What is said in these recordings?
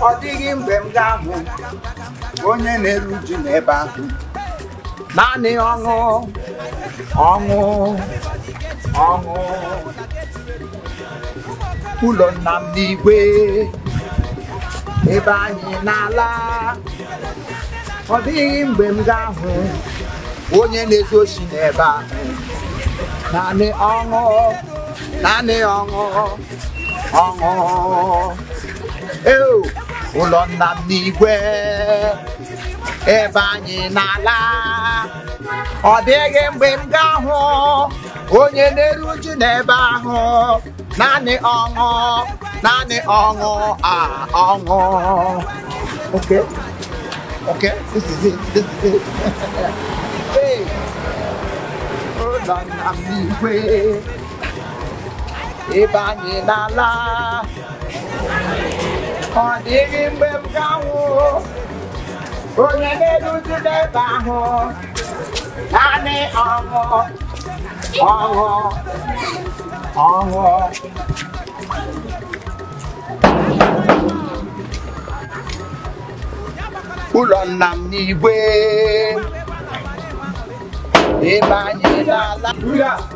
ọ dịghị mgbe m ga-ahụ onye na-eru uju n'ebe ahụ naanị ọṅụ ọṅụ ọṅụ ụlọ nna m n'igwe ebe anyị na-ala ọ dịghị mgbe m ga-ahụ onye na-ezu oshi n'ebe ahụ naanị ọṅụ naanị ọṅụ ọṅụ Eo, ụlọ nna m n'igwe ebe anyị na-ala ọ dịghị mgbe m ga-ahụ onye na-eru uju n'ebe ahụ naanị ọṅụ naanị ọṅụ a ọṅụ okay okay this is it this is it hey ụlọ nna m n'igwe ebe anyị na-ala ọ dịghị mgbe m ga-ahụ onye na-eru uju n'ebe ahụ naanị ọṅụ ọṅụ ọṅụ ụlọ nna m n'igwe ebe anyị na-ala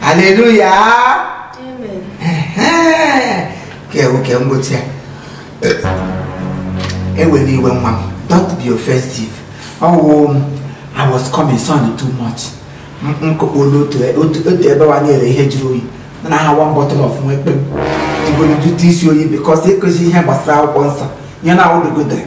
haleluya ka ewu ka mgbochi ya ewela iwe nwa m don't be offensive ọ wụ oh, um, i was coming sun too much nkokpolo otu e, e ebe wa na-ere ihe jụrụ oyi na ha one bottle of nwa ekpe m jigoro jụta isi oyi because ịkụzi ihe gbasara akwụkwọ nsọ nye na awụdogodere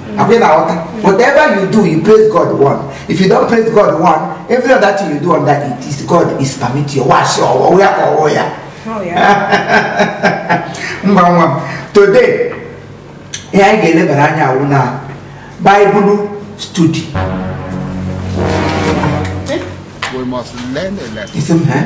Akwe na ọta. Whatever you do, you praise God one. If you don't praise God one, every other thing you do on that it is God is permit you. Wash your ọ wụ ya ka ọ wụ ya. Mba nwa m. Today, ihe anyị ga-elebara anya awụ na Bible study. We must learn a lesson. Isi m ha?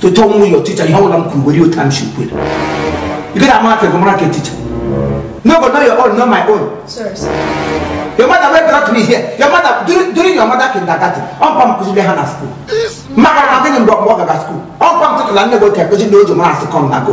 to tell me your teacher ihe ọbụla m kwuru were otu m shi kwuo you get amount of mara ke teacher no go know your own know my own Sorry, sir. your mother wey brought me here your mother during, during your mother kindergarten ọ mpa m kụziri ha na school maka na adịghị mgbe ọgbọ gaga school ọ mpa m tụtụla nne gị oke kụzi na ojo mara asị kọm na go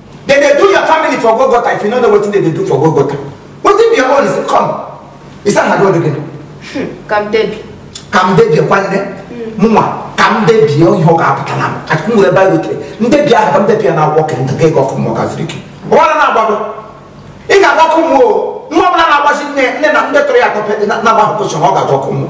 They dey do your family for Golgotha if you no know wetin they dey do for Golgotha. Wetin be your own is come. Is that how again? Hmm, ka m debie. Ka m debie nwanne. Mụnwa ka m debie ihe ọ ga-apụta na m. Achịkwa m were Baịbụl tere. Ndebi ahụ ka m debie na akwụkwọ ka m ga-ego ọkụ mmụọ gaziri gị. Ọwara na-agbago. Ị ga-agba ọkụ mmụọ o. Nwa ọbụla na-agbazi nne nne na ndị tọrọ ya atọ na-agba ọkụ ọ ga-agba ọkụ mmụọ.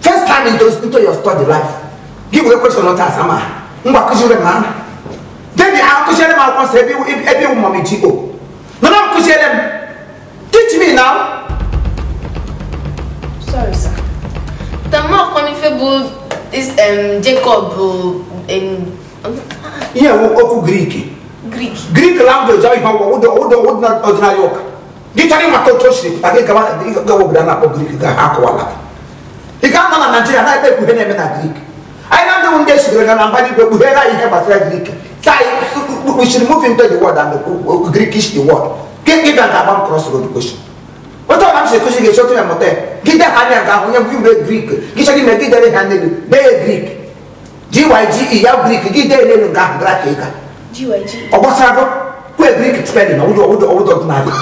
first time into, into your study life gị nwere question ọta asama ngwa kụziere m ahụ debi akụziere m akwụkwọ nsọ ebe ebe iwu mọm ji o nana m kụziere m teach me now sorry sir tama ọkọnife bụ is um, jacob bụ um, ihe okwu grik grik grik language ọ ihe ọgwụ ụdọ ụdọ ọdịnala ụka gị chọrọ ịmata otu o siri pụta gị gawa gawa obodo a na-akpọ grik ka ha kọwaara gị ị ga anọ na naijiria na-ekwu ihe na-eme na grik anyị na ndị ndị esiri ga na mba igwe kpughere anyị ihe gbasara grik taa we should move into the world and the grikish the world gị gị bịa ga-agba m cross road question otu ọbụla m si ekuzi gị esoro ya mụta ya gị de ha anya ga ahụ onye bụ igwe grik gị chọrọ ime gị dere ha n'elu dee grik GYGE ya Greek gị dee n'elu nke ahụ gara ka ịga ọ gbasara gị kwe Greek spelling ọwụdọ ọwụdọ ọwụdọ ọdịnala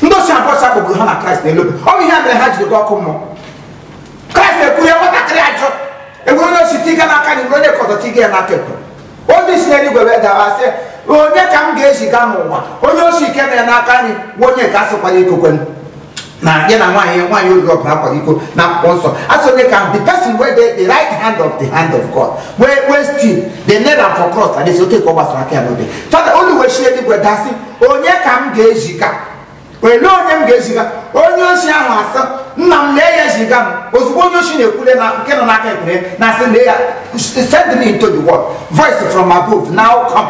ndị osi abụọ a kpọgburu ha na Kraịst n'elu obe ọ bụ ihe a mere ha jiri gwa ọkụ mmụọ Kraịst ekwuru ya nwatakịrị ajọ e nwere onye osi dị ya n'aka nri e nwere onye nke ọzọ dị ya n'aka ekpe olu si n'igwe wee dawa sị onye ka m ga-eziga n'ụwa onye osi nke nọ ya n'aka nri nwa onye ka a sị kwara iko kwe m na ya na nwaanyị ya nwaanyị oriri ọbụla akwara iko na akwụkwọ nsọ asị onye ka the person wey dey the right hand of the hand of God wey wey still dey nail am for cross and they say oge ka ọ gbasara aka ya n'obe fada olu wee shi eluigwe daa sị onye ka m ga-eziga olee onye m ga-eziga onye oshi ahụ asị nna m lee ya ziga m ozugbo onye oshi na-ekwule na nke nọ n'aka ekpe na-asị lee ya send me into the world voice from above now come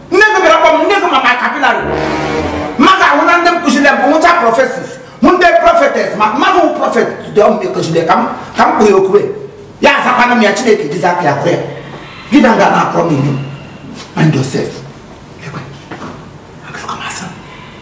nne gị bịara kpọ m nne gị ma ma kapịlarị mmadụ ahụ na ndị m kụziri ya bụ wụcha prọfesis wụ ndị prọfetes ma mmadụ wụ prọfet dị ọmụ ekụziri ya ka m ka m jụọ ya okwu ya azakwana m ya chineke jizi aka ya kwere gị na nga na-akọrọ m ilu and yourself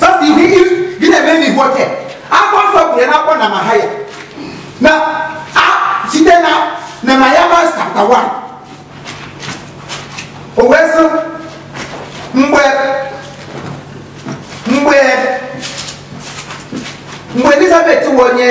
first thing ihe gị na-eme n'ihu oke akwụkwọ nsọ kwuru ya n'akwụkwọ nehemaya na a- site na nehemaya mas chapter 1 o wee sị mgbe mgbe mgbe elizabeth wụ onye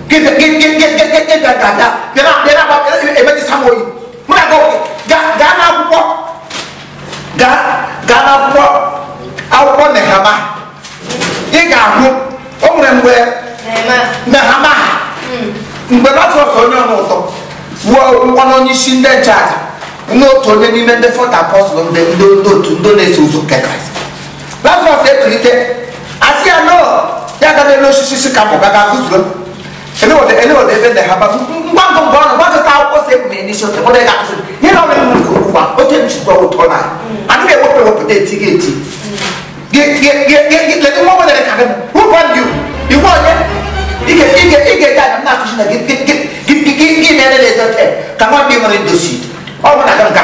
emetụsa m oyi ngwa gaa n'akwụkwọ gaa n'akwụkwọ akwụkwọ nehemaya ị ga-ahụ o nwere mgbe nehemaya mgbe lọtọs onye ọnụ ụtọ wuo ụgwọ n'onye isi ndị nchụaja n'otu onye n'ime ndị fọta apọstụl ndị otu ndị na-eso ụzọ nke kraịst lazarus ekulite asị ya nọ ya aga n'elu osisi si ka mụga ga gụzuo elewode elewode ebe ndị ha ba ngwa ngwa ngwa ọnụ gbakọta akwụkwọ si ebu na-enye isi ote mụda ị ga-akụzi ihe na ọrụ ewu nke okwu gwa oke nchikwa ụtọ na adịghị ewepụ ewepụta eti gị eti gị nwa nwere ka gị ụgwọ ndị iwu onye ị ga-eji aga m na-akụzi na gị gị gị gị gị mere na-ezote ka nwa ndị nwere ndosi ọ bụ na aga m ga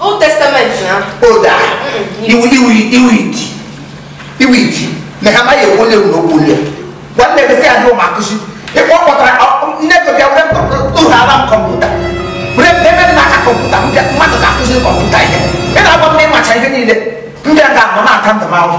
Old Testament na. Old ah. Iwu iwu iwu iti. Iwu iti. Na ha ma ye wole wo no pole. Wa le be se adu ma kusi. E ko ko tra ne ko bia wole ko to ha ram computer. Wole be be na ka computer mbia ma to ka kusi computer ye. E na bo me ma cha ye ni le. Mbia ga mo na ka ndo ma wo.